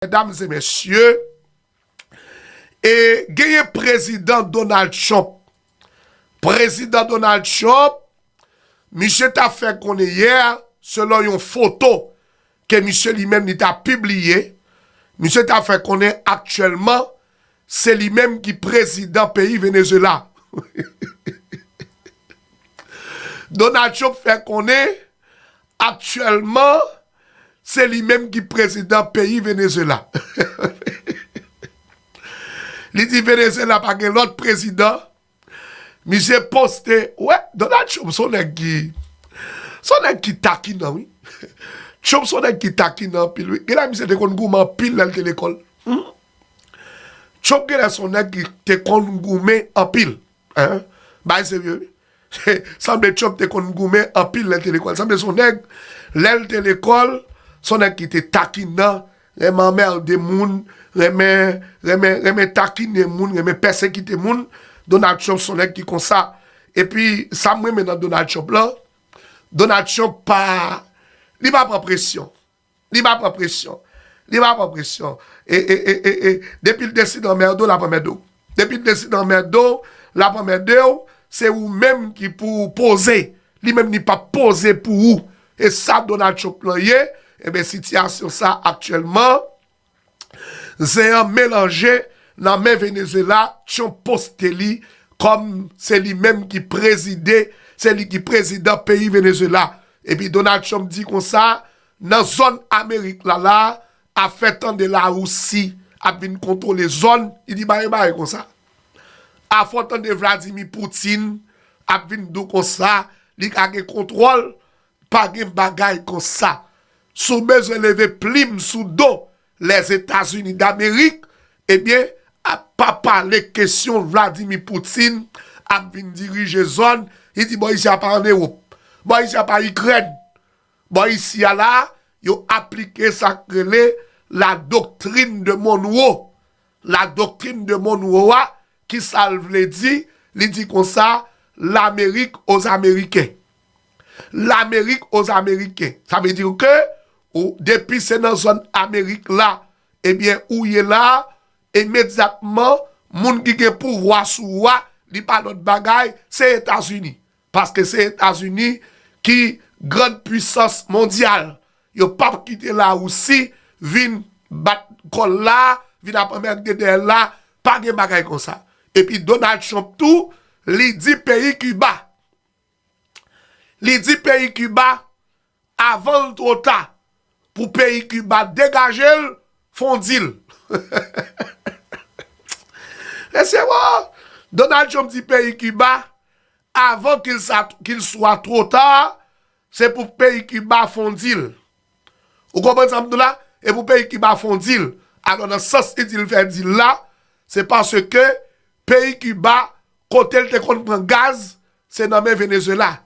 Medam e mesye, e genyen prezidan Donald Trump. Prezidan Donald Trump, misye ta fè konnen yè, selon yon foto ke misye li menm li ta pibliye, misye ta fè konnen aktyèlman se li menm ki prezidan peyi Venezuela. Donald Trump fè konnen Aktyèlman se li menm ki prezidan peyi Venezuela. Li di Venezuela pa gen lòt prezidan. Misye poste, wè Donald Trump son nèg ki, son nèg ki takinan wi. Trump son nèg ki takinan anpil wi. Genlè misye te konn goumen anpil lèl te lekòl. Trump genlè son nèg ki te konn goumen anpil. Hein Bagay serye wi Sanble Trump te konn goumen anpil lèl te lekòl Sanble son nèg lèl te lekòl son nèg ki te takinan renmen anmerde moun renmen renmen renmen takine moun renmen pèsekite moun Donald Trump son nèg ki konsa epi sam renmen nan Donald Trump lan Donald Trump pa li pa pran presyon. Li pa pran presyon. Li pa pran presyon. E, e, e, e, e, depi l deside anmède w, l ap anmède w. Depi l deside anmède w, l ap anmède w. Se ou menm ki pou ou poze. Li menm li pap poze pou ou. E sa Donald Trump lan ye, enben sitiyasyon sa aktyèlman, Zen an melanje nan men Venezuela Trump poste li kòm se li menm ki prezide se li ki prezidan peyi Venezuela epi Donald Trump di konsa nan zòn amerik la la a fè tande la Rousi ap vin kontwole zòn li di bare bare konsa a fè tande Vladimir Poutine ap vin dou konsa li ka gen kontwòl Pa gen bagay konsa. Si w bezwen leve plim sou do Lèzetazini Damerik, ebyen, pa pale kesyon Vladimir Poutine ap vin dirije zòn, li di bò isi a pa an Ewop, bò isi a pa Ikrèn. Bò isi a la, yo aplike sa k rele la doctrine de Monroe. La doctrine de Monroe a, Ki sa l vle di? Li di konsa, Lamerik oz Ameriken. Lamerik oz Ameriken. Sa vle di ke ou depi se nan zòn Amerik la ebyen ou ye la, imedyatman moun ki gen pouvwa sou ou a li pa lòt bagay se Etazini. Paske se etazini ki grand puisans mondyal yo pap kite la rousi vin bat kòl la vin ap anmerde dèyèl la pa gen bagay konsa epi donald trump tou li di peyi kiba li di peyi kiba Avan l two ta pou peyi Kiba degaje l fondi l. Mesye wo! Donald Trump di peyi Kiba avan ki l swa two ta se pou peyi Kiba fondi l. Ou konprann sa m di w la? E pou peyi Kiba fondi l. Alò nan sans li di l fè dil la, se paske peyi Kiba kote l te konn pran gaz se nan men Venezuela.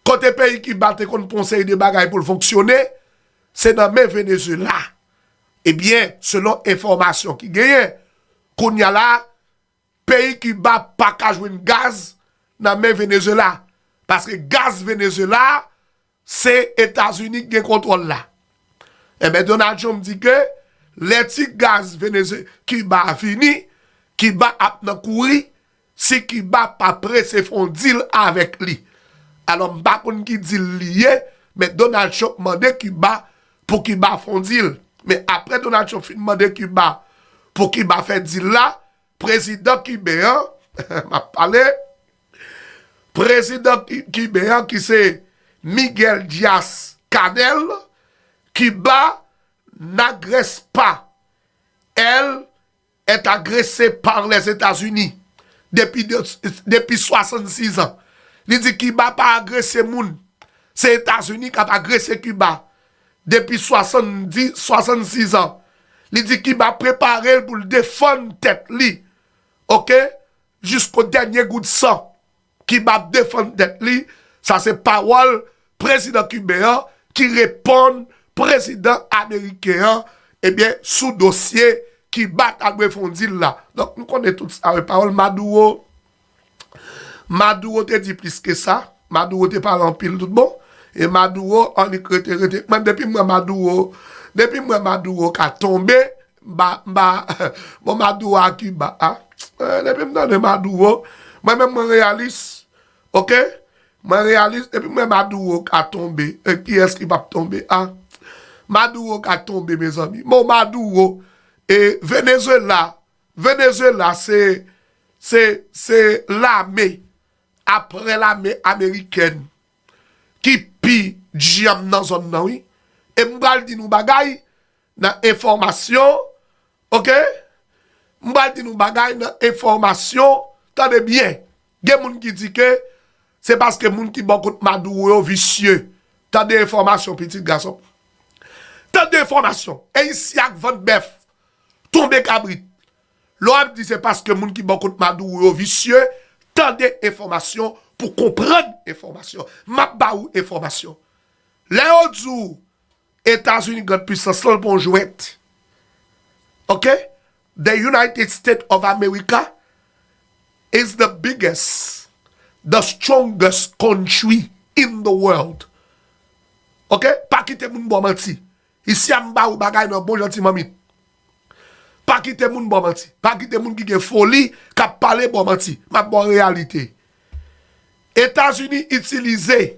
Kote peyi Kiba te konn pran yon seri de bagay pou l fonksyone, se nan men Venezuela. Ebyen, selon enfòmasyon ki genyen, kounye a la, peyi Kiba pa ka jwenn gaz nan men Venezuela, paske gaz Venezuela Se Etazini ki gen kontwòl la. Enben Donald Trump di ke lè ti gaz Venezue, Kiba a fini, Kiba ap nan kouri si Kiba pa prese fè yon deal avèk li. Alò m pa konn ki deal li ye, men Donald Trump mande Kiba pou Kiba fè yon deal. Men apre Donald Trump fin mande Kiba pou Kiba fè deal la, prezidan kiben an, m ap pale, Prezidan kiben an ki se Miguel Diaz-Canel, Kiba n'agrespa, el est agrese par les Etats Unis depi 66 ans. Li di Kiba pa agrese moun, se Etats Unis k'ap agrese Kiba depi 66 ans. Li di Kiba prepare l pou l defann tèt li ok Jisko dènye gout san, Kiba ap defann tèt li, sa se pawòl prezidan kiben an ki reponn prezidan ameriken an ebyen sou dosye Kiba ta dwe fè yon dil la. Donk nou konnen tout sa wi, pawòl Maduro, Maduro te di plis ke sa, Maduro te pale anpil tout bon, e Maduro annik rete rete, men depi m wè Maduro, depi m wè Maduro ka tonbe, M pa, m pa, bon Maduro a Kiba a, depi m tande Maduro, mwen menm mwen reyalis, ok, mwen reyalis, depi m wè Maduro ka tonbe, e kiyès ki pap tonbe a? Maduro ka tonbe mezanmi, bon Maduro, e Venezuela, Venezuela se, se, se lame, aprè lame amerikèn, ki pi dyanm nan zòn nan wi, e m pral di nou bagay, Nan enfòmasyon ok m pral di nou bagay nan enfòmasyon tande byen gen moun ki di ke se paske moun ki bò kot Maduro yo visye tande enfòmasyon pitit gasonm tande enfòmasyon e isi ak vant bèf tonbe kabrit lè w ap di se paske moun ki bò kot Maduro yo visye tande enfòmasyon pou konprann enfòmasyon m ap ba ou enfòmasyon lè yo di w Etazini grand pwisans lan l pa yon jwèt ok the united state of America is the biggest the strongest country in the world ok pa kite moun baw manti isi a m ba ou bagay nan bon jan ti manmit pa kite moun baw manti pa kite moun ki gen foli kap pale baw manti map baw reyalite Etazini itilize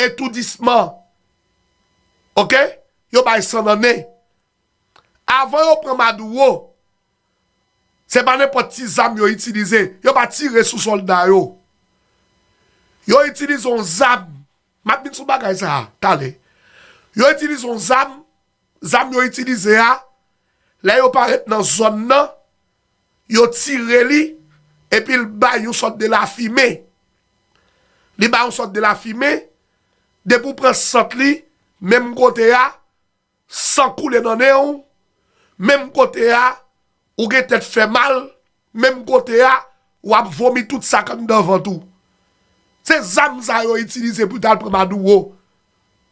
Etoudisman ok yo bay san nan nen avan yo pran maduro se pa nenpòt ti zam yo itilize yo pa tire sou sòlda yo yo itilize yon zam map vin sou bagay sa talè yo itilize yon zam Zam yo itilize a, lè yo parèt nan zòn nan, yo tire li epi l bay yon sòt de lafimen. Li bay yon sòt de lafimen, depi w pran sant li, menm kote a, san koule nan nen w, menm kote a, ou gen tèt fè mal, Menm kote a wap vomi tout sak anndan vant ou. Se zam sa yo itilize pou tal pran Maduro.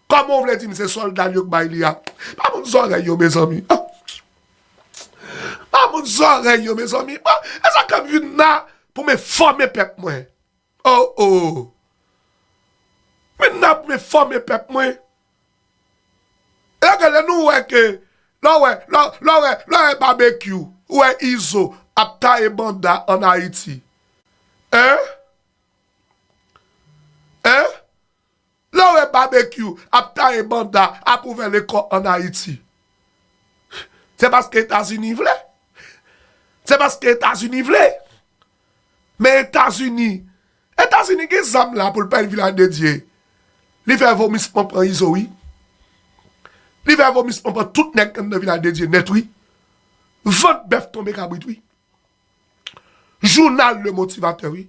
Koman w vle dim se solda l yo k bay li a. Pa moun zorey yo mezanmi. Pa moun zorey yo mezanmi. Bon, esak ke m vin la pou m enfome pep mwen. Oh oh! Men nap men fòme pèp mwen. Eske lè nou wè ke, lè w wè, lè w, lè w wè, lè w wè Babekyou, ou wè Izo ap taye banda an Ayiti. Hein? Hein? Lè w wè Babekyou ap taye banda ap ouvè lekò an Ayiti, se paske Etazini vle. Se paske Etazini vle. Men Etazini, Etazini gen zam la pou l pèl Vilaj de Dye. Li fè vomisman pran Izo wi. Li fè vomisman pran tout nèg anndan Vilaj de Dye nèt wi. Vant bèf tonbe kabrit wi. Jounal Le Motivateur wi.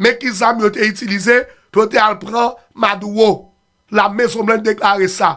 Men ki zam yo te itilize pou yo te al pran Maduro, Lamezonblanch deklare sa.